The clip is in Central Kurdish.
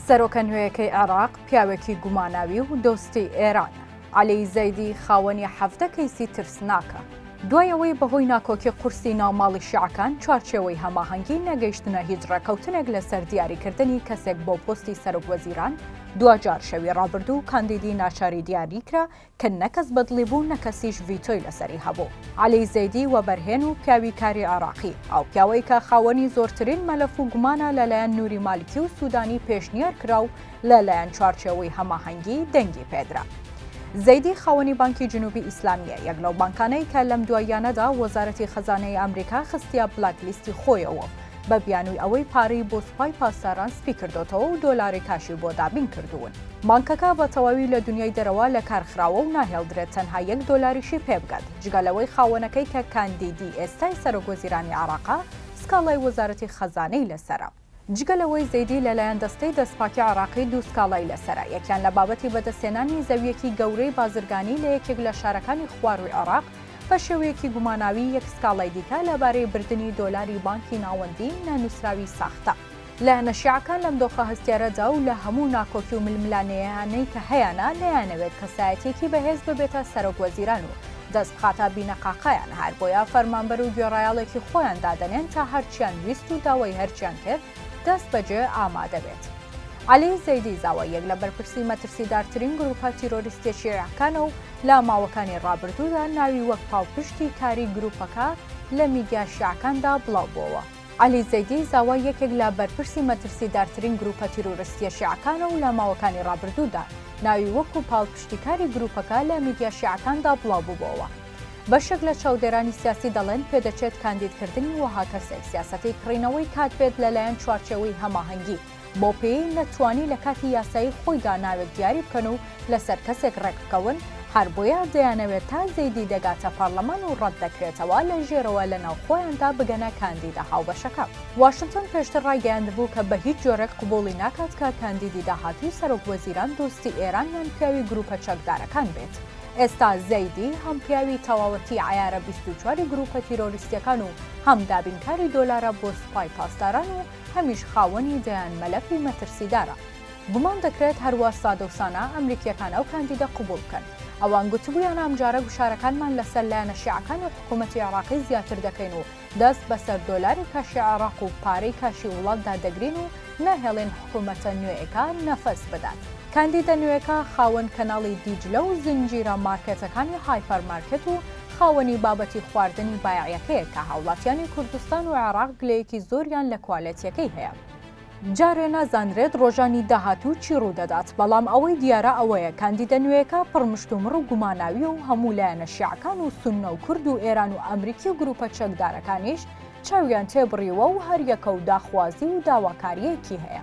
سەرۆکە نوێیەکەی عێراق پیاوێکی گوماناوی و دۆستی ئێرانە. عەلی زەیدی خاوەنی حەڤدە کەیسی ترسناکە. دوای ئەوەی بەهۆی ناکۆکی قورسی ناو ماڵی شیعەکان چوارچێوەی هەماهەنگی نەگەیشتنە هیچ ڕێکەوتنێک لەسەر دیاریکردنی کەسێک بۆ پۆستی سەرۆکوەزیران، دواجار شەوی ڕابردوو کاندیدی ناچاری دیاریکرا کە نە کەس بەدڵی بوو نە کەسیش ڤیتۆی لەسەری هەبوو. عەلی زەیدی وەبەرهێن و پیاوی کاری عێراقی، ئەو پیاوەی کە خاوەنی زۆرترین مەلەف و گومانە لەلایەن نوری مالکی و سودانی پێشنیار کرا و لەلایەن چوارچێوەی هەماهەنگی دەنگی پێدرا. زەیدی خاوەنی بانکی جنوبی ئیسلامییە، یەک لەو بانکانەی کە لەم دواییانەدا وەزارەتی خەزانەی ئامریکا خستیە بلاک لیستی خۆیەوە و بە بیانوی ئەوەی پارەی بۆ سوپای پاسداران سپی کردۆتەوە و دۆلاری کاشی بۆ دابین کردوون. بانکەکە بە تەواوی لە دونیای دەرەوە لە کار خراوە و ناهێڵدرێت تەنها یەک دۆلاریشی پێ بگات، جگە لەوەی خاوەنەکەی کە کاندیدی ئێستای سەرۆک وەزیرانی عێراقە، سکاڵای وەزارەتی خەزانەی لەسەرە. جگە لەوەی زەیدی لە لایەن دەستەی دەستپاکی عێراقی دوو سکاڵای لەسەرە، یەکیان لە بابەتی بەدەستهێنانی زەوییەکی گەورەی بازرگانی لە یەکێک لە شارەکانی خوارووی عێراق، بە شێوەیەکی گوماناوی یەک سکاڵای دیکە لەبارەی بردنی دۆلاری بانکی ناوەندی نەنووسراوی ساختە. لایەنە شیعەکان لەم دۆخە هەستیارەدا و لە هەموو ناکۆکی و ململانێیانەی کە هەیانە نەیانەوێت کەسایەتیەکی بەهێز ببێتە سەرۆک وەزیران و دەست بخاتە بینەقاقایان هەر بۆیە فەرمانبەر و گوێڕایەڵێکی خۆیان دادەنێن تا هەرچیان ویست و داوای هەرچیان کرد دەست بەجێ ئامادە بێت. عەلی زەیدی زاوا یەک لە بەرپرسی مەترسیدارترین گروپە تیرۆریستیە شیعەکانە و لە ماوەکانی ڕابردوودا ناوی وەک پاڵپشتی کاری گرووپەکە لە میدیا شیعەکاندا بڵاوبووەوە. عەلی زەیدی زاوا یەکێک لە بەرپرسی مەترسیدارترین گرووپە تیرۆرستییە شیعەکانە و لە ماوەکانی ڕابردوودا ناوی وەکو پاڵپشتیکاری گرووپەکە لە میدیا شیعەکاندا بڵاوبووەوە. بەشێک لە چاودێرانی سیاسی دەڵێن پێدەچێت کاندیدکردنی وەها کەسێک سیاسەتی کڕینەوەی کات بێت لەلایەن چوارچێوەی هەماهەنگی بەو پێیەی نەتوانی لە کاتی یاسایی خۆیدا ناوێک دیاری بکەن و لەسەر کەسێک ڕێکبکەون، هەر بۆیە دەیانەوێت تا زەیدی دەگاتە پەڕلەمان و ڕەتدەکرێتەوە لە ژێرەوە لە ناو خۆیاندا بگەنە کاندیدە هاوبەشەکە. واشنتۆن پێشتر ڕایگەیاندبوو کە بە هیچ جۆرێک قبوڵی ناکات کە کاندیدی داهاتووی سەرۆک وەزیران دۆستی ئێران یان پیاوی گروپە چەکدارەکان بێت. ئێستا زەیدی هەم پیاوی تەواوەتی عەیارە بیست و چواری گروپە تیرۆریستیەکان و هەم دابینکاری دۆلارە بۆ سوپای پاسداران و هەمیش خاوەنی دەیان مەلەفی مەترسیدارە. گومان دەکرێت هەروا سادەوسانە ئەمریکییەکان ئەو کاندیدە قبوڵ بکەن. ئەوان گوتبوویانە ئەمجارە گوشارەکانمان لەسەر لایەنە شیعەکان و حکوومەتی عێراقی زیاتر دەکەین و دەست بەسەر دۆلاری کاشی عێراق و پارەی کاشی وڵاتدا دەگرین و ناهێڵین حکوومەتە نوێیەکە نەفەس بدات. کاندیدە نوێکە خاوەن کەناڵی دیجلە و زنجیرە مارکێتەکانی هایپەر مارکێت و خاوەنی بابەتی خواردنی بایەعیەکەیە کە هاوڵاتیانی کوردستان و عێراق گلەیەکی زۆریان لە کوالێتیەکەی هەیە. جارێ نازانرێت ڕۆژانی داهاتوو چی ڕوودەدات، بەڵام ئەوەی دیارە ئەوەیە کاندیدە نوێیەکە پڕ مشتومڕ و گوماناویە و هەموو لایەنە شیعەکان و سوننە و کورد و ئێران و ئەمریکی و گروپە چەکدارەکانیش چاویان تێ بڕیوە و هەریەکە و داخوازی و داواکاریەکی هەیە.